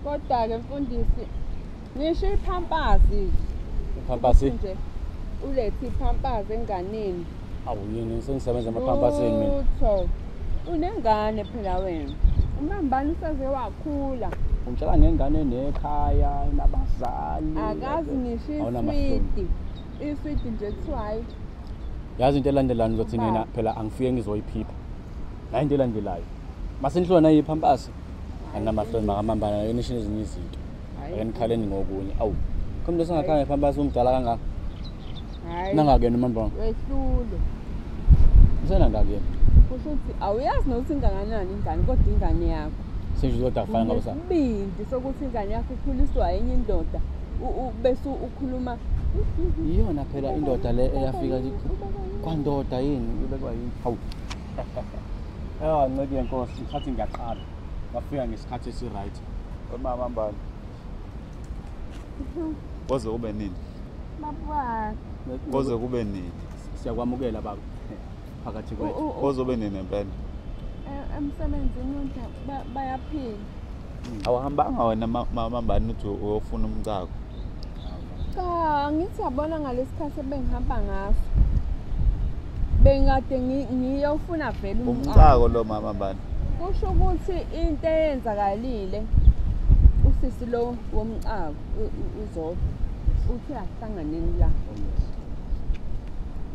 Kodwa-ke mfundisi ngisho iphampazi iphampasi nje ulethe iphampazi enganeni awu yini sengisebenza emaphampasini mina lutho unengane phela wena umambani usaze wakhula ungitshela ngengane nekhaya inabazali akazi ngisho iswidi iswidi nje kuthiwa hayi yazi into elandelani uzothi nina phela angifike ngizoyiphipha nayo into elandelayo masenihluka nayiphampasi anamahloni makamambana yena ishini ezinye izinto akenikhaleni ngokunye awu khona into singakhange phambi base umdala kangaka nangakena umambana wehlule usenangakena kusho ukuthi awuyazi nokuthi inganganani ingane kodwa ingane yakho senje uzoda afana ngabo sa bindi sokuthi ingane yakho ikhuliswa enye indoda bese ukhuluma iyona phela indoda le eyafika kwandoda yini ubekwa yini hawu Ewa nceki yenkosi ngithathe ngiyaqala. Wafika ngesikhathi esi right. Umama mbani. Koze kube nini? Baba. Koze kube nini? Siyakwamukela baba. Phakathi kwethu. Koze kube nini empela? Eh, emsebenzini bayaphila. awahambanga wena mamambani uthi uyofuna umcako cha ngithi yabona ngalesikhathi ebengihamba ngaso bengikade ngiyofuna vele umcako lo mama bani kusho ukuthi into eyenzakalile usisi lo womcako uzodwa uthi ahlanganeni la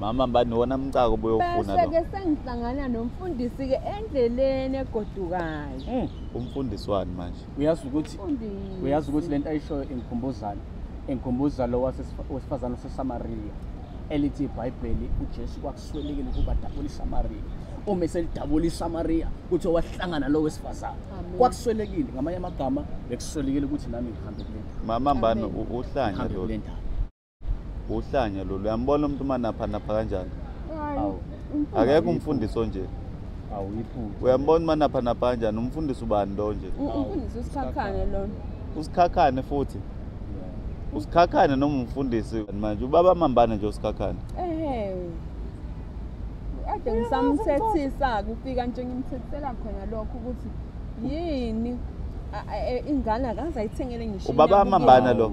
mama bani wona mcako boyofuna lo bese ke sengihlangana nomfundisi ke endleleni egodukayo hmm. umfundisi wani manje uyazi ukuthi uyazi ukuthi lento ayishoyo ingikhumbuzana engikhumbuza lo wesifazane wasesamariya elithi ibhayibheli ujesu kwakuswelekile ukuba dabula isamariya uma eselidabula isamariya kuthiwa wahlangana lo wesifazane kwakuswelekile ngamanye amagama bekuswelekile ukuthi nami ngihambe kule mama mbani uhlanya lo uhlanya lolu uyambona umuntu uma naphanapha kanjani akekho umfundisi onje uyambona uma naphanapha kanjani umfundisi ubani lo nje umfundisi usikhakhane lona usikhakhane futhi usikhakhane noma umfundisi manje ubaba mambane nje usikhakhane ade ngisamthethisa-ke ufika nje ngimthethela khona lokho ukuthi yini ingane akaze ayithengele ngisho ubaba amambana lo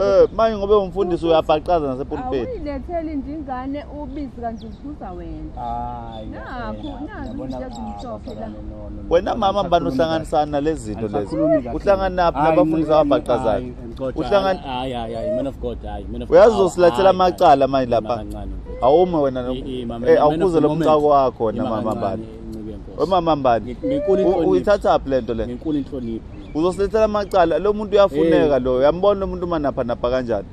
Eh manje ngobe umfundisi uyabhaqaza nasepulpit. Awuyiletheli nje ingane ubisi kanti ubuza wena. Hayi. Nakho nazi ngiyazimshophe la. Wena mama mbani uhlanganisana nalezinto lezi. Uhlanganaphi nabafundisi ababhaqazayo? Uhlangan Hayi hayi hayi man of God hayi man of God. Uyazosilethela amacala manje lapha. Awume wena eh awukuze lo mcako wakho wena mama mbani. Umama mbani? Uyithatha phi lento le? Nginkulu inhlonipho. uzosilethela amacala lo muntu uyafuneka lo uyambona lo muntu umanaphanapha kanjani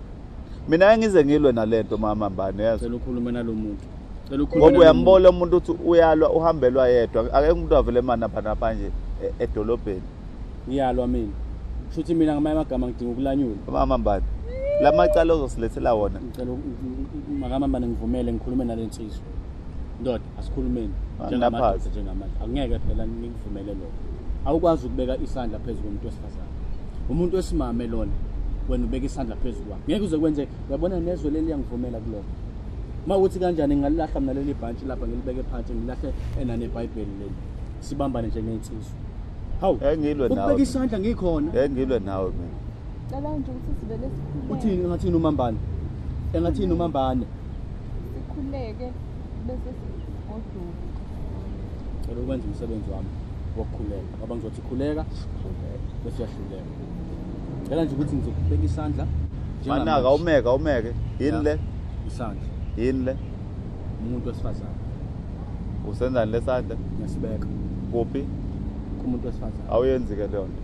mina engize ngilwe nalento mama mbane yazi cela ukhulume nalomuntu cela ukhulume ngoba uyambola umuntu uthi uyalwa uhambelwa yedwa akekho umuntu avele mana phana phanje e-, edolobheni ngiyalwa mina shuthi mina ngamanye amagama ngidinga ukulanyula mama mbane lamacala ozosilethela wona ngicela mama mbane ngivumele ngikhulume nalensizwa ndoda asikhulumeni njengamadoda njengamanje angeke phela ngikuvumele lokho awukwazi ukubeka isandla phezu komuntu wesifazane umuntu wesimame lona wena ubeka isandla phezu kwakhe ngeke uze kwenze uyabona nezwe leli yangivumela kulokho uma ukuthi kanjani ngingalilahla mina leli bhantshi lapha ngilibeke phansi ngilahle enanebhayibheli leli sibambane njengensizwa hawu engilwe nawe ubeka isandla ngikhona engilwe nawe mina cela nje ukuthi sivele sikhuleke uthini ngathini umambane engathini umambane sikhuleke bese sigoduka cela ukwenza umsebenzi wami wokukhuleka ngoba ngizothi khuleka bese uyahluleka cela nje ukuthi ngizokubeka isandla manaka umeke umeke yini le isandla yini le umuntu wesifazane usenzani lesandla ngisibeka kuphi kumuntu wesifazane awuyenzi ke leyo nto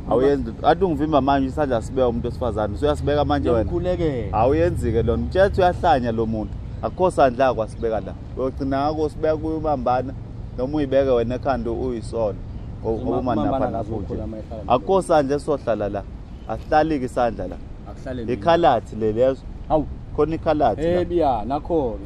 awuyenzi athi ungivimba manje isandla sibeka umuntu wesifazane usuyasibeka manje wena ukhulekele awuyenzi-ke lona mtshetha uyahlanya lo muntu akukho sandla kwasibeka la uyogcina ngako sibeka kuyo ubambana noma uyibeke wena ekhanda uyisona ngoba umaninafanafuje akukho sandla esizohlala la asihlali-ke isandla la ikhalathi le lezo khona ikhalathi la eh, nakhona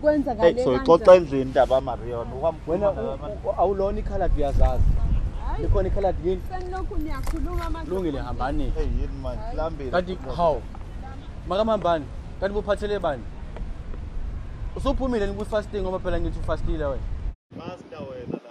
kwenzakale kanjani soyixoxa endlini indaba amarion wena awulona ikhaladi uyazazi likhona ikhaladi yini senilokhu niyakhuluma manje lungile hambani hey yini manje lambile kanti how makamambani kanti buphathele bani usuphumile ni fasting ngoba phela ngithi ufastile wena fasta wena la